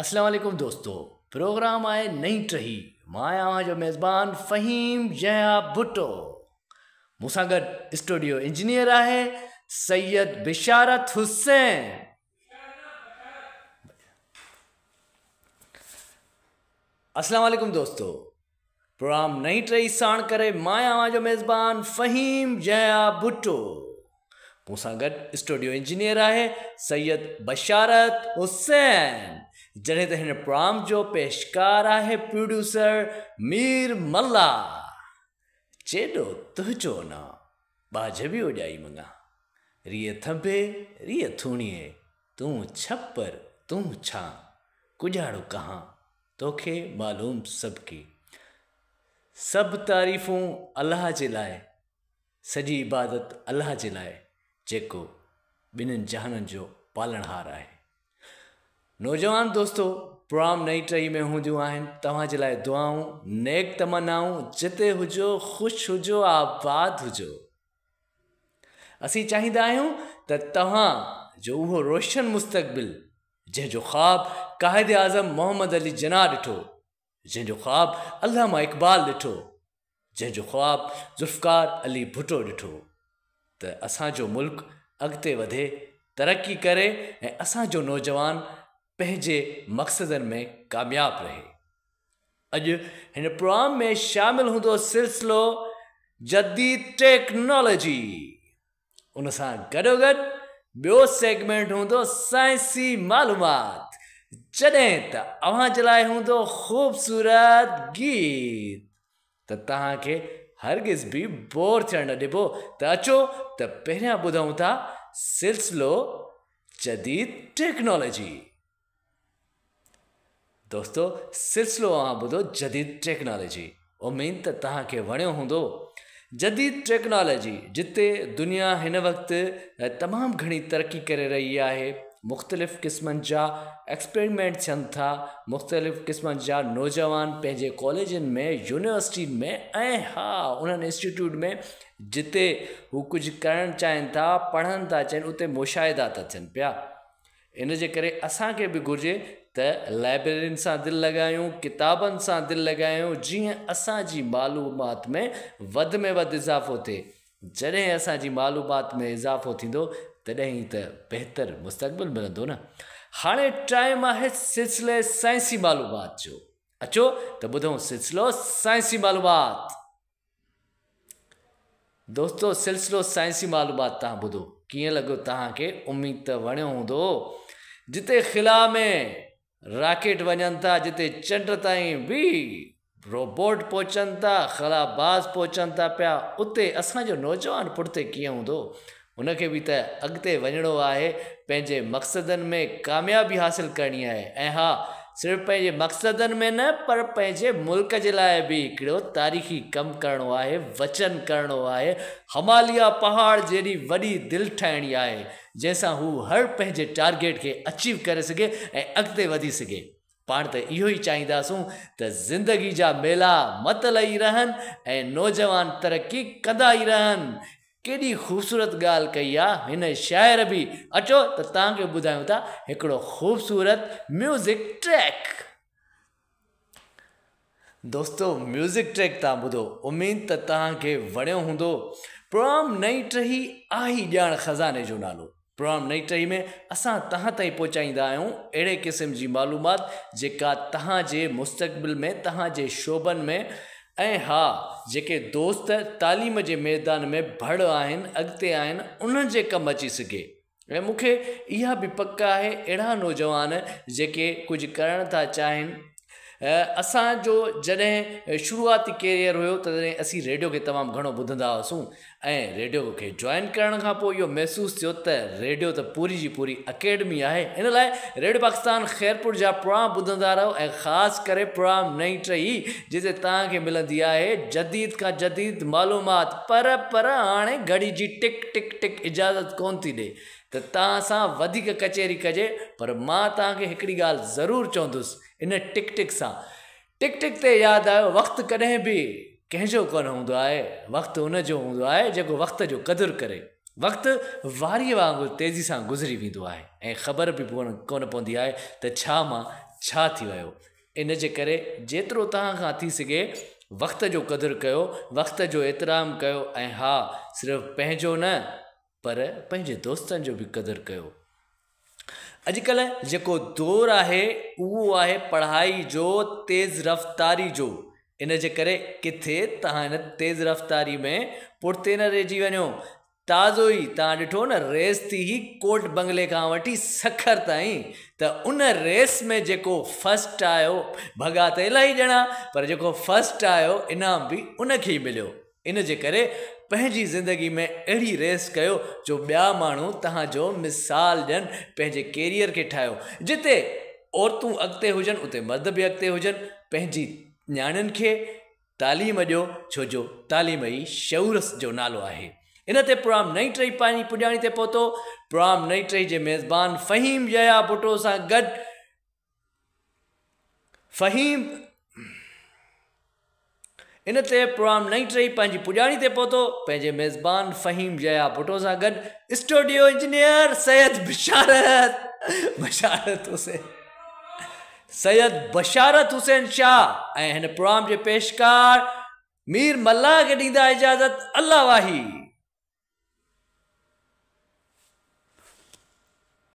اسلام عليڪم دوستو پروگرام آهي نئين ٽهي مان آهيان اوهان جو ميزبان فهيم يحيٰ ڀٽو مون سان گڏ اسٽوڊيو انجنيئر آهي سيد بشارت حسين اسلام عليڪم دوستو پروگرام نئين ٽهي ساڻ ڪري مان اوهان جو ميزبان فهيم جهيا ڀٽو مون سان گڏ اسٽوڊيو انجنيئر آهي سيد بشارت حسين جڏهن ته هن پروگرام جو پيشڪار آهي پروڊيوسر مير ملا چيڏو تهجو نا ٻاجهه به اوڄائي منگا ريء ٿنڀي ريء ٿوڻيء تون ڇپر تون ڇان ڪڄاڙو ڪهان توکي معلوم سڀ ڪي سڀ تعريفون الله جي لاء سڄي عبادت الله جي لاء جيڪو ٻنهن جهانن جو پالڻهار آهي نوجوان دوستو پروام نئي ٽهي ۾ هونديون آهن توهان جي لاء دعائون نيڪ تمنائون جتي هجو خوش هجو آباد هجو اسين چاهيندا آهيون ته توهان جو اهو روشن مستقبل جنهن جو خواب قائد اعظم محمد علي جناح ڏٺو، جنهن جو خواب علامه اقبال ڏٺو، جنهن جو خواب ذوالفقار علي ڀٽو ڏٺو ته اسان جو ملڪ اڳتي وڌي، ترقي ڪري ۽ اسان جو نوجوان پنهنجي مقصدن ۾ ڪامياب رهي. اڄ هن پروام ۾ شامل هوندو سلسلو جديد ٽيڪنالاجي. ان سان گڏوگڏ ٻيو سيگمينٽ هوندو سائنسي معلومات جڏهن ته اوهان جي لاء هوندو خوبصورت گيت ته توهان کي هرگز به بور ٿيڻ نه ڏبو ته اچو ته پهريان ٻڌون ٿا سلسلو جديد ٽيڪنالاجي دوستو سلسلو اوهان ٻڌو جديد ٽيڪنالاجي اميد ته توهان کي وڻيو هوندو جديد ٽيڪنالاجي جتي دنيا هن وقت تمام گهڻي ترقي ڪري رهي آهي مختلف قسمن جا ايڪسپيرمنٽ ٿين ٿا مختلف قسمن جا نوجوان پنهنجي ڪاليجن ۾ يونيورسٽين ۾ ۽ ها انهن انسٽيٽيوٽ ۾ جتي هو ڪجهه ڪرڻ چاهين ٿا پڙهن ٿا چين اتي مشاهدا ٿا ٿين پيا ان جي ڪري اسان کي به گهرجي ته لائبريرين سان دل لڳايون، ڪتابن سان دل لڳايون جيئن اسان جي معلومات ۾ وڌ ۾ وڌ اضافو ٿئي. جڏهن اسان جي معلومات ۾ اضافو ٿيندو تڏهن ئي ته بهتر مستقبل ملندو نه. هاڻي ٽائيم آهي سلسلي سائنسي معلومات جو. اچو ته ٻڌون سلسلو سائنسي معلومات. دوستو سلسلو سائنسي معلومات تان ٻڌو ڪيئن لڳو تهان کي اميد ته وڻيو هوندو جتي خلا ۾ راڪيٽ وڃن ٿا جتي چنڊ تائين به روبوٽ پهچن ٿا خلا باز پهچن ٿا پيا اتي اسان جو نوجوان پٺتي ڪيئن هوندو هن کي به ته اڳتي وڃڻو آهي، پنهنجي مقصدن ۾ ڪاميابي حاصل ڪرڻي آهي ۽ ها صرف پنهنجي مقصدن ۾ نه پر پنهنجي ملڪ جي لاء به هڪڙو تاريخي ڪم ڪرڻو آهي، وچن ڪرڻو آهي، هماليا پهاڙ جيڏي وڏي دل ٺاهڻي آهي، جنهن سان هو هر پنهنجي ٽارگيٽ کي اچيو ڪري سگهي ۽ اڳتي وڌي سگهي. پاڻ ته اهو ئي چاهينداسون ته زندگي جا ميلا متل ئي رهن ۽ نوجوان ترقي ڪندا ئي رهن. ڪيڏي خوبصورت ڳالهه ڪئي آ هن شاعر به. اچو ته توهان کي ٻڌايون ٿا هڪڙو خوبصورت ميوزڪ ٽريڪ. دوستو ميوزڪ ٽريڪ تان ٻڌو اميد ته توهان کي وڻيو هوندو پروگرام نئين ٽهي آهي ڄاڻ خزاني جو نالو پروگرام نئين ٽهي ۾ اسان توهان تائين پهچائيندا آهيون اهڙي قسم جي معلومات جيڪا توهان جي مستقبل ۾ توهان جي شعبن ۾ ۽ ها جيڪي دوست تعليم جي ميدان ۾ ڀڙ آهن اڳتي آهن انهن جي ڪم اچي سگهي ۽ مون کي اها به پڪ آهي اهڙا نوجوان جيڪي ڪجهه ڪرڻ ٿا چاهين اسانجو جڏهن شروعاتي ڪيريئر هيو تڏهن اسين ريڊيو کي تمام گهڻو ٻڌندا هئاسون ۽ ريڊيو کي جوائن ڪرڻ کان پوء اهو محسوس ٿيو ته ريڊيو ته پوري جي پوري اڪيڊمي آهي ان لاء ريڊيو پاڪستان خيرپور جا پروگرام ٻڌندا رهو ۽ خاص ڪري پروگرام نئي ٽهي جتي توهان کي ملندي آهي جديد کان جديد معلومات پر پر هاڻي گهڙي جي ٽڪ ٽڪ ٽڪ اجازت ڪونه ٿي ڏئي ته توهان سان وڌيڪ ڪچهري ڪجي پر مان توهان کي هڪڙي ڳالهه ضرور چوندس ان ٽڪ ٽڪ سان ٽڪ ٽڪ تي ياد آيو وقت ڪڏهن به ڪنهن جو ڪونه هوندو آهي وقت ان جو هوندو آهي جيڪو وقت جو قدر ڪري وقت واريء وانگر تيزي سان گذري ويندو آهي ۽ خبر به ڪونه پوندي آهي ته ڇا مان ڇا ٿي ويو ان جي ڪري جيترو توهان کان ٿي سگهي وقت جو قدر ڪيو، وقت جو احترام ڪيو ۽ ها صرف پنهنجو نه پر پنهنجي دوستن جو به قدر ڪيو. اڄ ڪلهه جيڪو دور آهي اهو آهي پڙهائي جو تيز رفتاري جو ان جي ڪري ڪٿي توهان ان تيز رفتاري ۾ پٺتي نه رهجي وڃو تازو ئي توهان ڏٺو نه ريس ٿي هئي ڪورٽ بنگلي کان وٺي سکر تائين ته ان ريس ۾ جيڪو فرسٽ آيو ڀڳا ته الاهي ڄڻا پر جيڪو فرسٽ آيو انعام به ان کي ئي مليو ان جي ڪري پنهنجي زندگي ۾ اهڙي ريس ڪيو جو ٻيا ماڻهو توهان جو مثال ڏين پنهنجي ڪيريئر کي ٺاهيو جتي عورتون اڳتي هجن اتي مرد به اڳتي هجن پنهنجي نياڻين کي تعليم ڏيو ڇو جو تعليم ئي شعور جو نالو آهي. ان تي پرام نئين ٽهي پنهنجي پڄاڻي تي پهتو. پرام نئين ٽهي جي ميزبان فهيم يحيٰ ڀٽو سان گڏ فهيم ان تي پرام نئين ٽهي پنهنجي پڄاڻي تي پهتو پنهنجي ميزبان فهيم يحيٰ ڀٽو سان گڏ اسٽوڊيو انجنيئر سيد بشارت بشارت حسين سيد بشارت حسين شاهه ۽ هن پروام جي پيشڪار مير ملاح کي ڏيندا اجازت الله واهي.